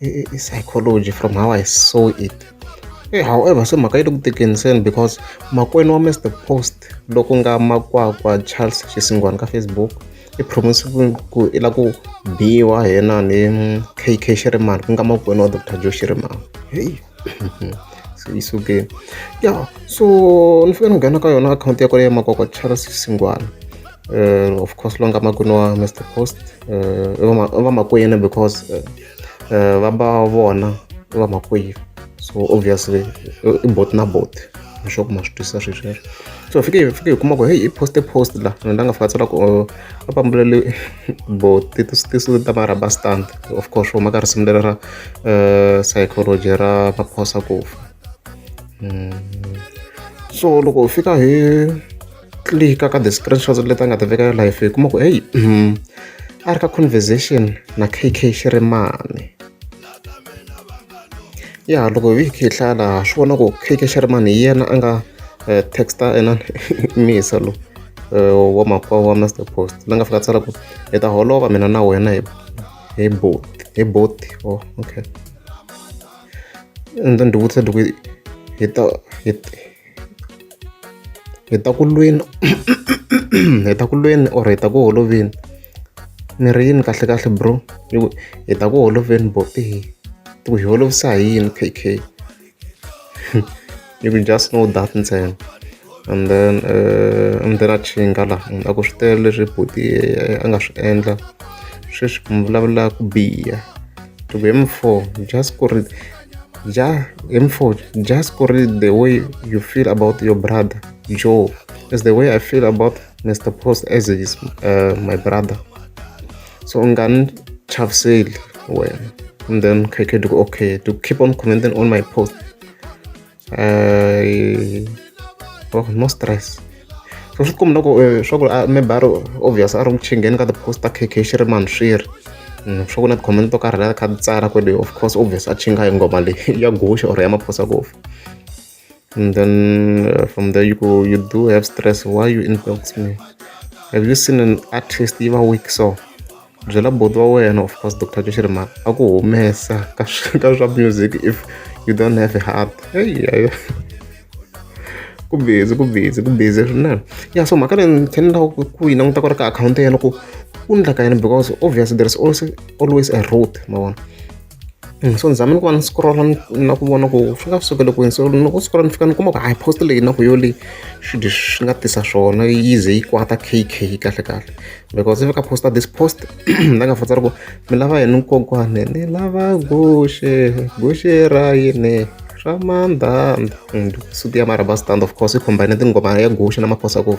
i psychology from how I saw it e however se mhaka yi le ku tekeni seni because makwenu wa Mister Post loku nga makwakwa Charles Xisingwani ka Facebook i promise ku i la ku biwa hi yena ni KK Shirimani ku nga makwenu wa Doctor Joe Shirimani heyi so it's okay ya so ni fika ni nghena ka yona akhawunti ya kwale ya makwakwa charles xingwana uh, of course longa makwini wa mr post uh, vamakwini because uh, uh, va ba vona vamakwini so obviously i bot na bot leswaku ma swi twisisa swesweswo so fike fike hi kuma ku heyi i poste post la ni nga fika tsala ku va pambulele bo tisuti ta va rubber stand of course va huma ka risimu leri ra eh, psychology ra maphosa ku fa hmm. so loko u fika hi clika ka the screenshots leti a nga ti veka ya life hi kuma ku heyi hmm, a ri ka conversation na kk xirimani ya loko hi kha hi hlaya laha swi vona ku K_K Sherman hi yena a nga text-a inana i Miyisa lowu wa makwavo wa Mister Post la nga fika a tsala ku hi ta holova mina na wena hi hi boat hi boat or okay and then ni ti vutisa ni ku hi ta hi. hi ta ku lweni hi ta ku lweni or hi ta ku holoveni ni ri yini kahle kahle bro hi ta ku holoveni bopi hi ku hi holovisa hi yini kk you can just know that ntsena and then uh, and then a chinga laha munhu a ku swi tele leswi buti a nga swi endla sweswi mi vulavula ku biha to be m4 just ku ri Ja, hi mfuthu just ku ri the way you feel about your brother joe is the way i feel about mr post as is uh, my brother so u nga ni chaviseli wena and then khekhe to okay to keep on commenting on my post eh, bro no stress so swi tikomba loko eh, swa ku ah, maybe a ri obvious a ri ku chingeni ka ti-post ta kk xi ri mani swi ri mm, swa ku na ti-comment to karhi la kha ti tsala kwele of course obvious a chinga hi ngoma leyi ya guxe or ya maphosa kofi and then uh, from there you go you do have stress why you inbox me have you seen an artist yi va weak so byela buti wa wena of course doctor Joshua Rimaka a ku humesa ka ka swa music if you don't have a heart heyi ku busy ku busy ku busy swinene ya so mhaka leyi ni tlhe ni lava ku yi languta ku ri ka akhawunti ya yena ku ku endla ka yini because obviously there is also always a route ma vona so ni tshame ni ku va ni scroll na ku vona ku swi nga sukeli kwini so loko u scroll ni fika ni kuma ku hayi post leyi na ku yo leyi swi swi nga tisa swona yi ze yi kwata kk kahle kahle because ivi ka posta this post ni nga fanisa ku mi lava yini kokwane ni lava guxe guxe ra yini ra mandhandha suti ya marabastanda of course yi combine tinghoma ya guxe na maphosakova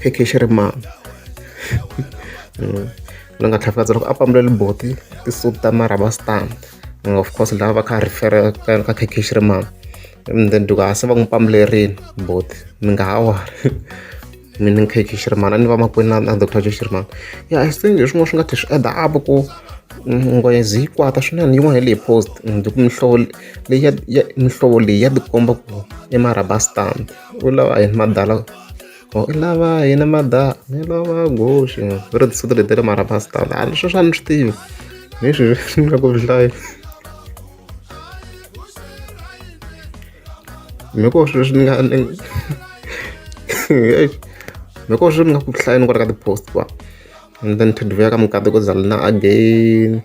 kk xi ri mani loyi a nga tlhafukadza loko a pambuleli buti ti-suit ta mara va stand of course lava va kha va refer ka ka kk xi ri mani and then loko a se va n'wi pambulerini buti mi nga ha wari mina ni kk xi ri mani a ni vamakwenu na na doctor xi ri mani ya i think hi swin'wana swi nga tlhe swi add up ku nghozi yi kwata swinene yin'wana hi leyi post loko mihlovo leyi ya ya mihlovo leyi ya tikomba ku i marhaba stand. u lava yini madala u lava yini mada ni lava guxe va ri tinsimu leti ta le marabas ta laha leswi swa ni swi tivi hi swi swi nga ku hlayi mi ko swilo leswi ni nga mi ko swilo ni nga ku hlayi ni ku ri ka ti-post va and then to dvuya ka mukati ku zalina again